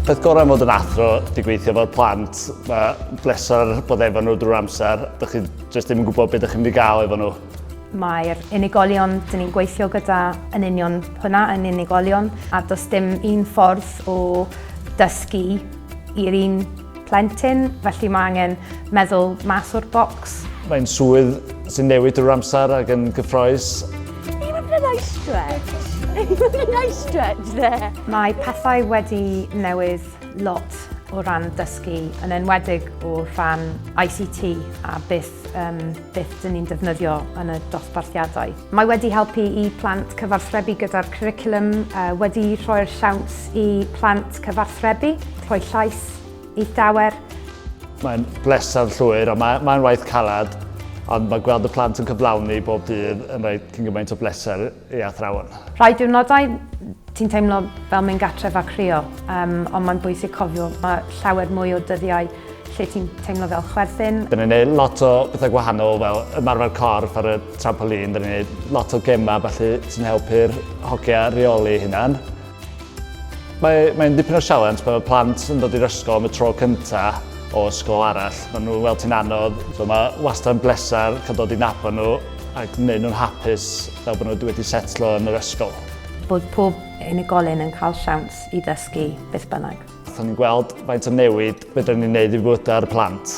Peth gorau mod yn athro di gweithio fel plant, mae bleser bod efo nhw drwy'r amser, dych chi jyst ddim yn gwybod beth ydych chi'n mynd i gael efo nhw. Mae'r unigolion dyn ni'n gweithio gyda yn union hwnna, yn unigolion, a does dim un ffordd o dysgu i'r un plentyn, felly mae angen meddwl mas o'r bocs. Mae'n swydd sy'n newid drwy'r amser ac yn gyffroes. Dwi wedi gwneud nice stretch. Dwi wedi gwneud nice stretch there. Mae pethau wedi newid lot o ran dysgu, yn enwedig o ran ICT a beth, um, beth dyn ni'n defnyddio yn y dosbarthiadau. Mae wedi helpu i plant cyfarthrebu gyda'r cwricwlwm, wedi rhoi'r siawns i plant cyfarthrebu, rhoi llais, eithawer. Mae'n bleser llwyr a mae, mae'n waith caled, ond mae gweld y plant yn cyflawni bob dydd yn rhaid cyn gymaint o bleser i athrawon. Rhai diwrnodau ti'n teimlo fel mynd gatref a chrio, um, ond mae'n bwysig cofio mae llawer mwy o dyddiau lle ti'n teimlo fel chwerthin. Dyn ni'n neud lot o bethau gwahanol fel ymarfer corff ar y trampolin, dyn ni'n neud lot o gemau felly sy'n helpu'r hogia reoli hunan. Mae, mae'n dipyn o sialens pan mae plant yn dod i'r ysgol am y tro cynta o ysgol arall. Mae nhw'n weld ti'n anodd, so mae wastad yn bleser cael dod i nabod nhw a gwneud nhw'n hapus fel bod nhw wedi setlo yn yr ysgol. Bod pob unigolyn yn cael siawns i ddysgu beth bynnag. Byddwn ni'n gweld faint o newid byddwn ni'n gwneud i fywydau'r plant.